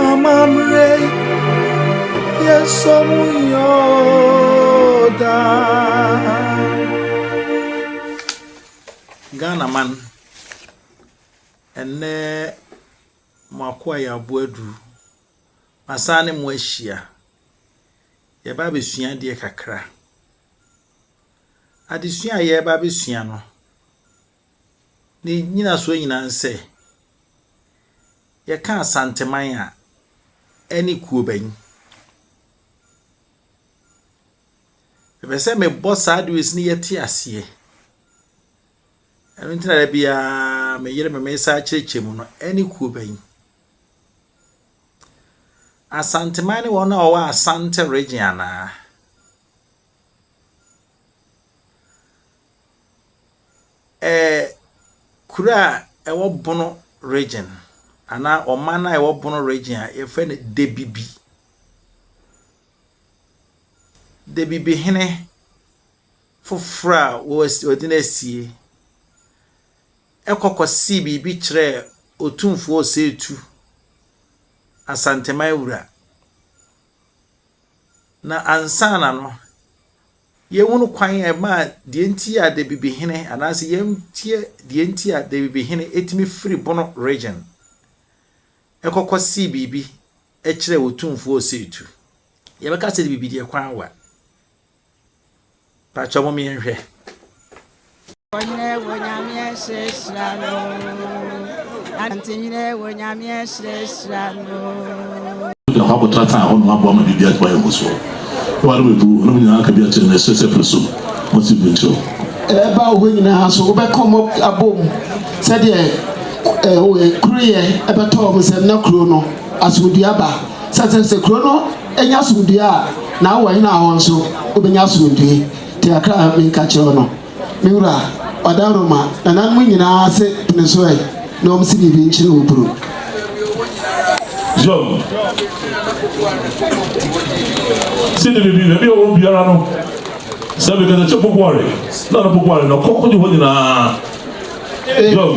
Amammerɛ yɛsɔ mu yɛ oo daa. Ghanaman, ɛnnɛ mo akoa yɛ aboadu. Masan ne mo ahyia. Yɛba abɛsua adeɛ kakra. Adesua a yɛba abɛsua no, Ne nnyinasoɔ nyinaa ne sɛ, yɛka Asanteman a, ɛne kuo bɛn? Mepɛ sɛ mebɔ saa dewes no yɛte aseɛ. Ɛno nti na da biara me yere me mesa akyerɛkyerɛ mu no, ɛne kuo bɛn? Asanteman ne wɔn a wɔwɔ Asante region anaa? Ɛɛ kuro a ɛwɔ Bono region anaa ɔman a ɛwɔ Bono region a yɛfrɛ no Debibi. Debibi hene foforɔ a wɔde no asie ɛkɔkɔ sii biribi kyerɛɛ otumfoɔ Osetu Asanteman wura. Na ansaana no, yɛhunu kwan a ɛmaa deɛ nti a da bibihene anaasɛ yɛnteɛ deɛ nti a da bibihene ɛtumi firi bono region ɛkɔkɔ see biribi ɛkyerɛ otumfoɔ ɔsɛetu. Yɛbɛka sɛ da bibi deɛ kwan wa. Pakyɛ mo meyɛ nhwɛ. Onyinɛ wɔ nyameɛ hyerɛhyerɛ no. Anante nyinɛ wɔ nyameɛ hyerɛhyerɛ no. Wogyina hɔ akɔtena tan hɔ nom aboa ma biribi atumi ayɛ mo soɔ. Wo ara w'abu wo nom nyinaa aka bi akyerɛ no ɛserɛ sɛ pere so ma si bu nkyerɛ wo. Ɛba wo hɔ nyinaa so wobɛkɔ mo abom sɛdeɛ kuro yɛ ɛbɛtɔ wɔn sɛ na kuro no asomdua ba sɛ sɛ kuro no. Anya asomdwoe a, na wɔ hene a ɔwɔ nso obenya asomdwoe. Te akra a menka kyerɛ wo no, me wura, ɔda Roma nananom nyinaa ase pene so ɛ na wɔn se biribi nkyere wo bro. Job se ne biribi, baabi a ɔwɔ biara no, sɛ mekasa kyɛ popoare, na no popoare, na ɔkɔ kogye hɔ nyinaa. Job.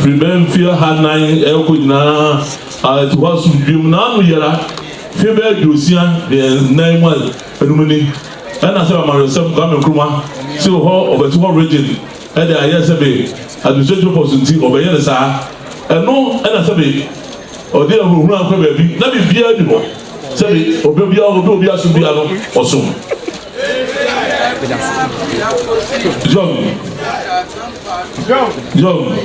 Firi bɛyɛ mfeɛ ɔha nan rekɔ nyinaa a ɛte hɔ asomdwoeɛ mu, na ano yera. Mfeɛ bɛyɛ aduosia ne nnan mu a ɛnum ni, ɛna sɛ amanwesɛm Kwame Nkrumah te hɔ, ɔbɛte hɔ regyen ɛde ayɛ sɛbe administrative force nti ɔbɛyɛ no saa. Ɛno ɛna sɛbe ɔde ahunahuna akɔ baabi na biribiara nni hɔ. Sɛbi ɔbɛ bia ɔdɔ ɔbia so bia no ɔso John John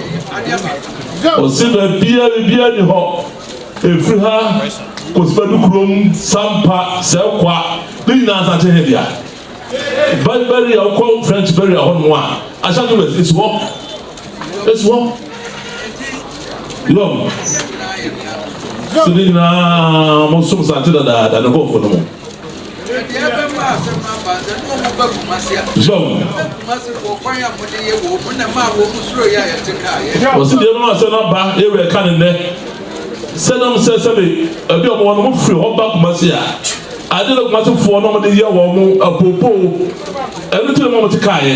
ɔse bɛbia bia ni hɔ ɛfiri ha kɔsibɛdu kurom sampa sɛ kwa ne nyinaa asakye hɛ dea bɛri a wokɔ french bɛri a hɔ noa ahyɛ to bɛsi hɔ Esoɔ lɔm so ne nyinaa mo som sante dadaada ne bɔɔfo no mo. Lɔm. Wɔsi deɛ ɛbɛma asɛm no aba ewe ɛka ne nnɛ sɛ nam sɛ sɛbi ɛbi ɔmo wɔn mo firi hɔ ba Kumasi a ade na Kumasi foɔ na ɔmo de yɛ wɔn mo apopoo ɛno ti na mo ɔmo te kaa yɛ.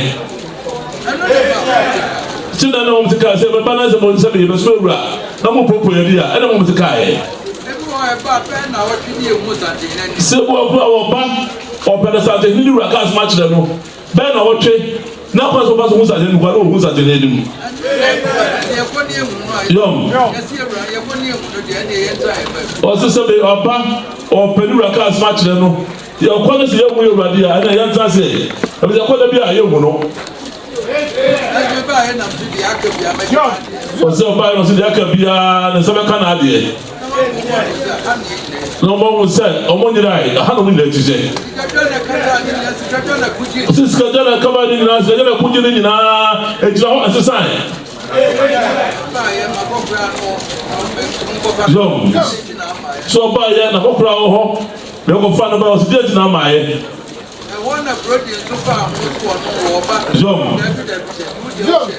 Nti na na wɔn te kaa sɛ ɛbɛba na sɛ wɔn sɛ me yɛbɛsoma awura na mo popo yɛ de a ɛna wɔn te kaa yɛ. Sɛ bi wɔ kora wɔba ɔpɛ na sase hene wura kaa soma kyerɛ no bɛn na wɔtwe na kwan sɛ wɔba so ho sase no kwan na wɔhu sase hene anim. Yɔm. Ɔse sɛ bi ɔba ɔpɛ ne wura kaa soma kyerɛ no. Yɛn kwa no sɛ yɛhu yɛ Awurade a ɛna yɛntena ase ɛfiri sɛ ɛkɔ da bi a yɛhu no. Ɔsɛ ɔbaeɛ no ɔsɛ deɛ aka biara ne nsa bɛka n'adeɛ na ɔma hu sɛ ɔmo nyerae aha na ɔmo nyina akyi sɛ ɔsɛ sikadwa na ɛkaba ne nyinaa sikadwa na ɛkogye ne nyinaa ɛgyina hɔ ɛsesae so ɔbaeɛ na kɔkora wɔ hɔ Dɛ wɔfaa no baa hɔ, dɛn ntsi na ama ayɛ? Hɔ na Brody so faa ho sɛ ɔno wɔ ɔba. Yom. Dabi, dabi, dabi, wo deɛ wohyɛ.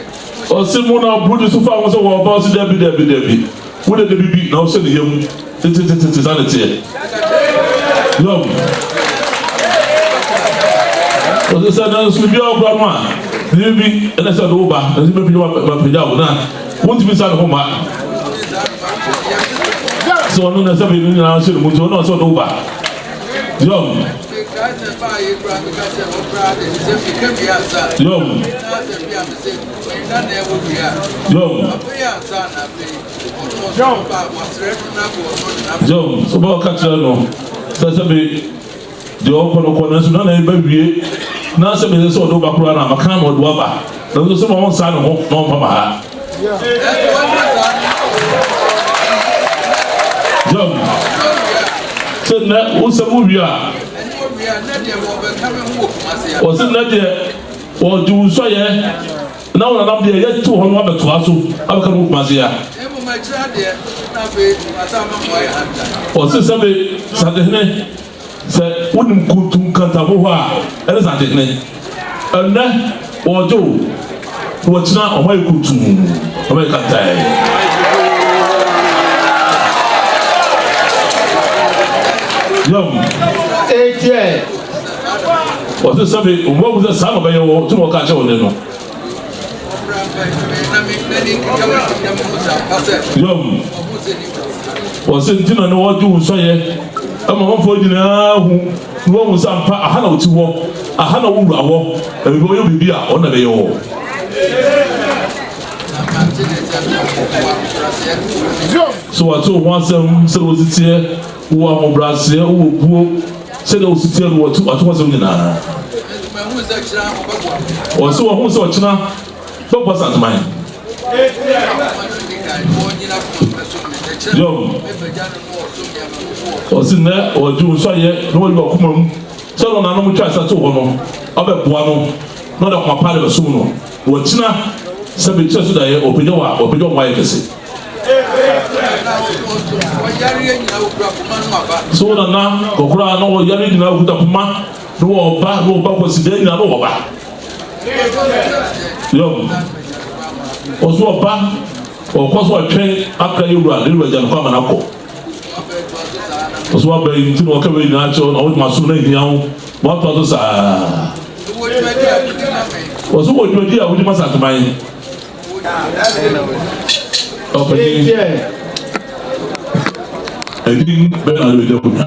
Ɔse mo na Brody so faa ho sɛ wɔ ɔba, ɔse dabi, dabi, dabi, wo deɛ dabi bi na wohyɛ ne yam tetetetete, saa na ɛteɛ. Yom. Ɔse sɛ nanso biribiara wɔ kora no a, dabi bi ɛna sɛ ɔde wo ba, nanso mɛpagya wo, mɛpagya wo na. Montumi nsa ne ho mma sɛ ɔno na sɛ mmienu nyinaa nso ne mu nti ɔno ɔsɛ ɔde wo ba yɔm yɔm yɔm yɔm so bɛ ɔka kyerɛ no sɛ sɛ bi Deɛ ɔkɔ no kɔ nanso na n'ani bɛwie na sɛ meyɛ sɛ ɔde wo ba koraa no a maka ama ɔde wo aba nanso sɛ ma ɔnsa ne ho na ɔmpa ma ha. John, sɛ nnɛ wo nsɛm wo wie a ɔse nnɛ deɛ wɔgye wo nsɔyɛ Na wɔnam deɛ Yɛ too hɔ no abɛtoa so abɛka no wɔ Kumase ha. Na mmom akyire adeɛ na afei wɔasan ama mo ayɛ Antan. Ɔse sɛ me Santehene sɛ wonim Kuntu Nkantago hɔ a ɛne Santehene. Ɛnnɛ wɔregye wo na wakyina wɔn ayɛ Kuntu, wɔn ayɛ Kantan. Yom. Ɛnteɛ. Wɔse sɛ me obu agu sɛ saa na ɔbɛyɛ wo, tum ɔka kyerɛ wo ne no. Yom. Wɔse nti na ne wɔgye wo nsɔyɛ ɛma manfoɔ nyinaa hu na wɔhu sɛ ampa aha na ɔti hɔ, aha na wo wura wɔ, ɛbɛbɛ ɔyɛ biribi a ɔno na ɛbɛyɛ wɔ. Yom. So wɔate wo ho asɛm sɛ wositeɛ, wowɔ ahobraseɛ, wowɔ buo. Sɛdeɛ wɔsi teɛ no wɔ atu atorɔsɛm nyinaa. Wɔsi wɔn ho sɛ ɔkyena bɛbɔ Santeman. Yom. Wɔsi nnɛ wɔdi wɔn suayɛ na wɔyi wɔn akoma mu sɛ wɔn nanom twa sa too hɔ no ɔbɛboa no na ɔde akoma pa de bɛsom no. Wɔkyena sɛ me nkyerɛso daeɛ wɔpagya wɔ a wɔpagya wɔn ayɛ kɛse. So na na kɔkora a na wɔyare nyinaa okuta poma na wɔba na wɔba kwasidaa nyinaa na wɔba. Yɔm. Wɔso wɔba wɔkɔ so ɔtwɛn akra yɛ wura ne wura gya no kɔ ama no akɔ. ɔso waba yi nti na ɔka wei nyinaa kyɛw na wodema so no ahia wo woatoa so saa ɔso wɔ dwumadi a wodi ma sateman ɔpanyin ɛdin bɛna wode bɛgya konya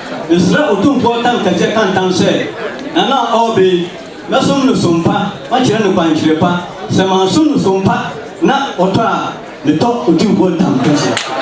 Mesrɛ Otumfoɔ Tan Kɛseɛ ka ntam sɛ, Nana a ɔreba yi, mɛsom no som pa, makyerɛ no kwankyerɛ pa. Sɛ mansom no som pa na ɔtɔ a, metɔ Otumfoɔ Tan Kɛseɛ.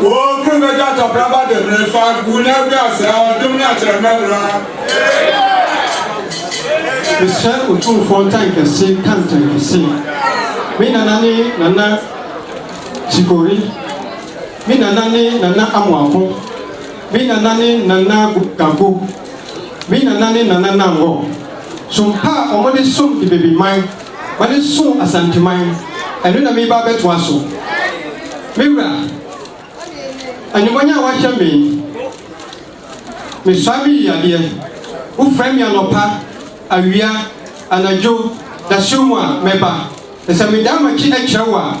Wɔɔkuru bɛgya tɔpraba demmire fa gu na agu ase a ɔdom ne akyerɛmɛ bra. Mesrɛ Otumfoɔ Ntankɛse ka Ntankɛse Me Nana ne Nana Chikori Me Nana ne Nana Amoako Me Nana ne Nana Gago Me Nana ne Nana Nangor Som pa a wɔde som de baby man. Wɔde so Asanteman, ɛno na mereba abɛtoa so. Me wura, animuonyam a woahyɛ me, mesoa me yiyadeɛ, wofrɛ me anɔpa, awia, anadwo, dasuo mu a, mɛba. Na sɛ medan m'akyi kyerɛ wo a,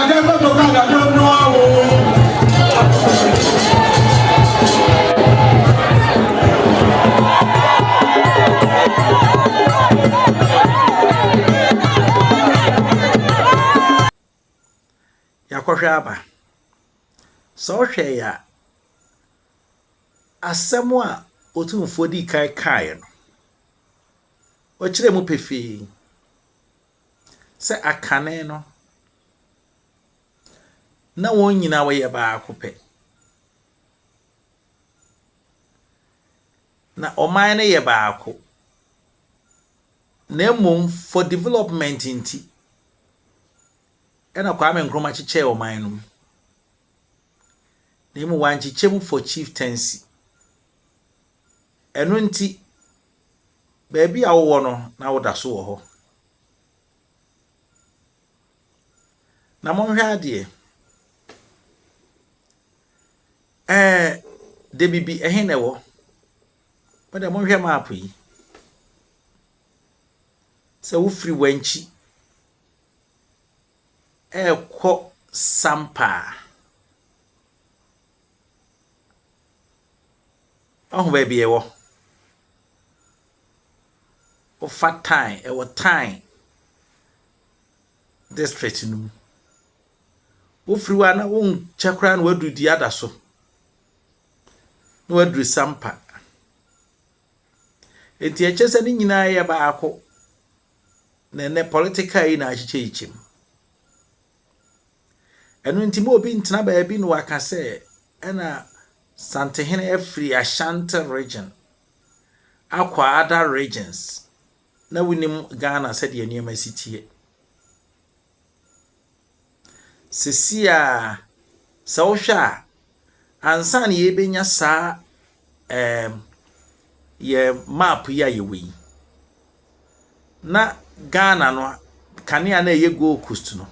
yɛakɔhwɛ aba sɛ ɔhwɛ yɛ a asɛm a otumfoɔ di kan kaeɛ no ɔkyerɛ mu pefee sɛ akane no, na wɔn nyinaa wɔyɛ baako pɛ. Na ɔman no yɛ baako. Na mmom for development nti, ɛna Kwame Nkrumah kyekyɛɛ ɔman no mu. Na mmom wankyekyɛ mu for chieftaincy. Ɛno nti, Baabi a wowɔ no na woda so wɔ hɔ. Na monhwɛ adeɛ. Ɛɛ Dabibi ɛhe na ɛwɔ? Mo deɛ monhwɛ map yi. Sɛ wofiri Wankyi ɛrekɔ Sampaa. Woahu baabi a ɛwɔ? Wofa Tan, ɛwɔ Tan district no mu. Wofiri hɔ a na wonkyɛ koraa na woaduru Diada so, na woaduru Sampa. Enti ɛkyɛ sɛ ne nyinaa yɛ baako na ɛnɛ political yi na akyekyɛ yi kyɛm. Ɛno nti ma obi ntena baabi na waka sɛ ɛna Santehene afiri Ashanti region akɔ other regions na wonim Ghana sɛdeɛ nneɛma si tie. Sisi a sɛ wohwɛ a ansa na yɛbɛnya saa um, yɛ map yi a yɛwɔ yi, na Ghana no kanea na ɛyɛ Gold Coast no,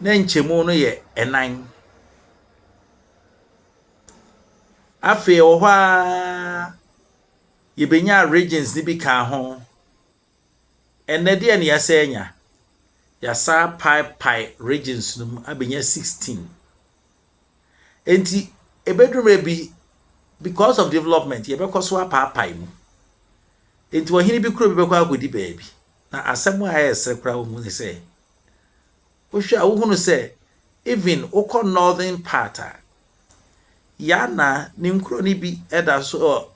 na nkyɛmu no yɛ ɛnan. Afei wɔ hɔ a yɛbɛnya regions no bi kaa ho. Ɛnnɛ deɛn na yɛasan anya? Yɛasan apaepae regions no mu abɛnya 16. Enti ɛbɛduru mmerɛ bi, because of development, yɛbɛkɔ so apaapae mu. Enti ɔhene bi kuro bi bɛkɔ akɔdi baabi. Na asɛm a ɛyɛ sere koraa wɔ mu ne sɛ, wohwɛ a wohunu sɛ even wokɔ northern part a, Yana ne nkuro no bi da so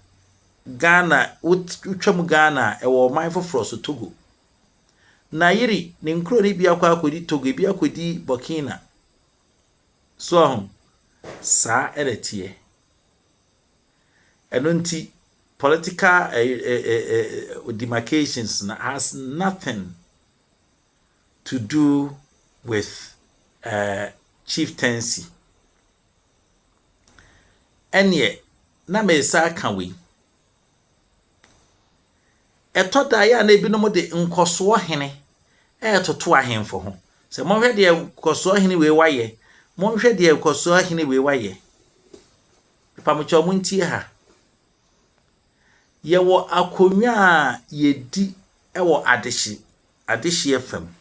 Ghana, wotwam Ghana a, ɛwɔ ɔman foforɔ so, Togo. Nayiri, ne nkuro no bi akɔ akɔdi Togo, ebi akɔdi Burkina. So ahu? Saa ɛna ɛteɛ. Ɛno nti, political eh, eh, eh, eh, eh demarcations has nothing to do with uh, chieftaincy. Ɛnneɛ, na meresan aka wei. Ɛtɔ da a, ɛyɛ a na ebinom de nkɔsoɔ hene retoto ahemfo ho. Sɛ monhwɛ deɛ nkɔsoɔ hene wei wayɛ, monhwɛ deɛ nkɔsoɔ hene wei wayɛ. Mpamokyɛw mo ntie ha. Yɛwɔ akonnwa a yɛdi wɔ adehye, adehyeɛ fam.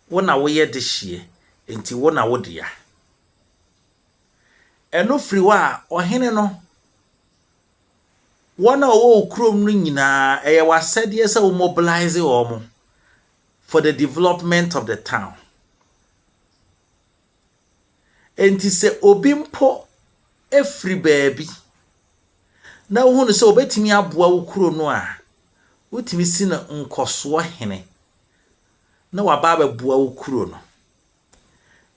Wo na woyɛ dehyeɛ, enti wo na wo dea. Ɛno firi hɔ a, ɔhene no, wɔn a wɔwɔ wo kurom no nyinaa, ɛyɛ w'asɛdeɛ sɛ wo mobilise wɔn for the development of the town. Enti sɛ obi mpo firi baabi na wohu no sɛ obetumi aboa wo kuro no a, wotumi si no nkɔsoɔ hene na waba abɛboa wo kuro no.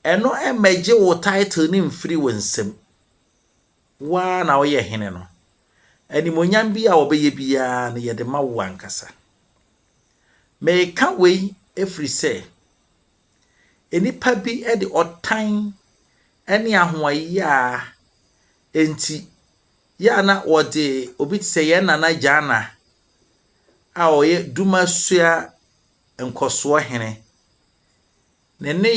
Ɛno mmɛgye wo title no mfiri wo nsam. Wo ara na woyɛ hene no. Animonyam bi a wɔbɛyɛ biara no yɛde ma wo ankasa. Meka wei ɛfiri sɛ, Nnipa bi de ɔtan ne ahoɔyea nti yɛ a na wɔde obi te sɛ yɛn Nana Gyana a ɔyɛ Dumasua nkɔsoɔ hene ne ne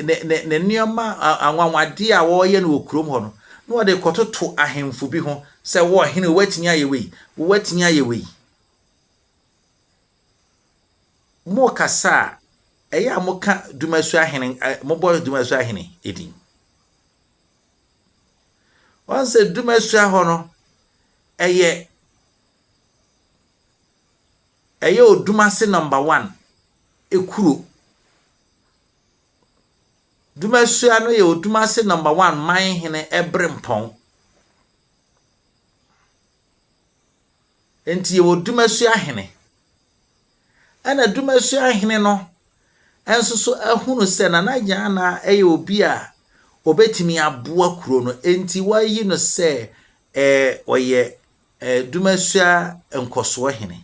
ne ne ne nneɛma anwanwadeɛ a wɔreyɛ no wɔ kurom hɔ no na wɔde kɔtoto ahemfo bi ho sɛ wɔhene wɔatumi ayɛ wei wɔatumi ayɛ wei Mokasa a, ɛyɛ a moka Dumasu Ahene, mobɔ Dumasu Ahene edin. Wɔn sɛ Dumasu ahɔ no, ɛyɛ ɛyɛ Odumase number one ekuro. Dumasua no yɛ Odumase number one man hene ɛbrempɔn. Enti yɛwɔ Dumasua Hene. Ɛna Dumasua Hene no nso so ahunu sɛ Nana Gyanaa yɛ obi a ɔbɛtumi aboa kuro no, enti wɔayi no sɛ eh, ɔyɛ eh, Dumasua Nkɔsoɔ Hene.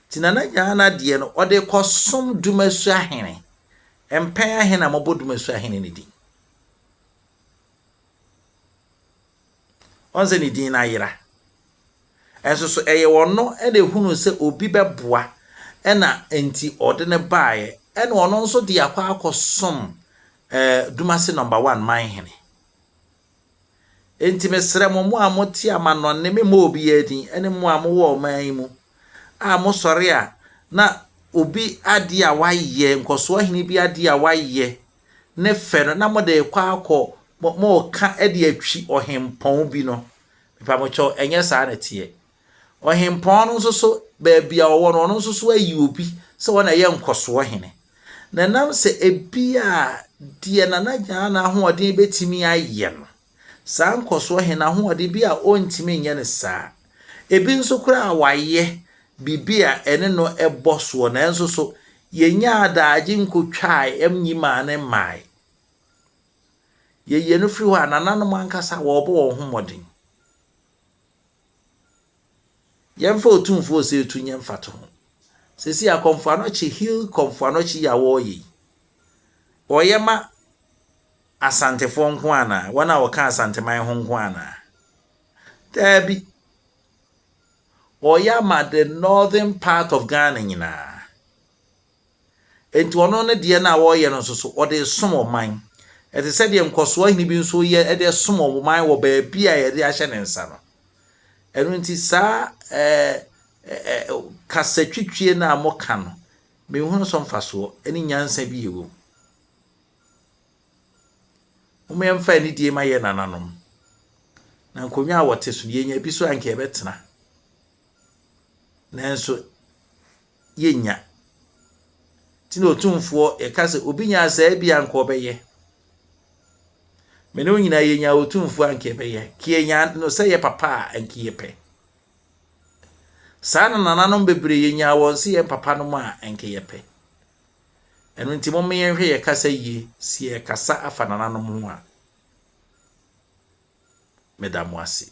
Nti Nana Gyanaa deɛ no, ɔde kɔsom Dumasua Hene. Mpɛn ahe na mɔbɔ Dumasua Hene no din? Ɔn sɛ ne din no ayera. Nso so ɛyɛ ɔno na ehunuu sɛ obi bɛboa na nti ɔde no baeɛ ɛna ɔno nso de akɔ akɔsom eh, Dumase number one man hene. Enti mesrɛ mo mo a mote amanɔnne memmɔ obiara din ɛne mo a mowɔ ɔman yi mu a mosɔre a na obi adeɛ a wayɛ nkɔsoɔ hene bi adeɛ a wayɛ ne fɛ no na mode rekɔ akɔ mo moreka de atwi ɔhempɔn bi no, mepamokyɛw, ɛnyɛ saa na ɛteɛ. Ɔhempɔn no nso so, baabi a ɔwɔ no, ɔno nso so ayi obi sɛ wɔn na ɛyɛ nkɔsoɔ hene. Na ɛnam sɛ ebi a deɛ Nana Gyaana ahoɔden bɛtumi ayɛ no, Saa nkɔsoɔ he, n'ahoɔden bi a ɔntumi nyɛ no saa. Ebi nso koraa wayɛ bibi a ɛne no bɔ soɔ nanso so yɛnyaa adaagye nkotwaae nyimaa no mmaae. Yɛyie no firi hɔ a, nananom ankasa wɔɔbɔ wɔn ho mmɔden. Yɛmfa Otumfoɔ Osei Tuh nyɛ mfatoho. Seesei akɔmfoanɔkye, Hill kɔmfoanɔkye yi a wɔreyɛ yi, wɔyɛ ma Asantefoɔ nko ara anaa? Wɔn a wɔka Asanteman ho nko ara anaa? Daabi. Wɔreyɛ ama the northern part of Ghana nyinaa. Enti ɔno ne deɛ no a ɔreyɛ no nso so, ɔde resom ɔman. Ɛte sɛ deɛ nkɔsoɔ hene bi nso reyɛ de resom ɔman wɔ baabi a yɛde ahyɛ ne nsa no. Ɛno nti saa ɛɛ kasatwitwie no a moka no, menhunu so mfasoɔ ne nyansa bi ɛwɔ mu. Mom yɛmfa anidie ma yɛ nananom. Na nkonnwa a wɔte so no, yɛnya bi so anka yɛbɛtena. Nanso yɛnnya. Nti na Otumfoɔ yɛka sɛ obi nyaa saa bi anka ɔbɛyɛ. Me ne wo nyinaa yɛnyaa Otumfoɔ anka yɛbɛyɛ. Ka yɛnyaa no sɛ yɛ papa a anka yɛpɛ. Saa na nananom bebree yɛnyaa wɔn sɛ yɛn papa nom a anka yɛpɛ. Ɛno nti momme yɛnhwɛ yɛ kasa yie si yɛ kasa afa nananom ho a. Meda mo ase.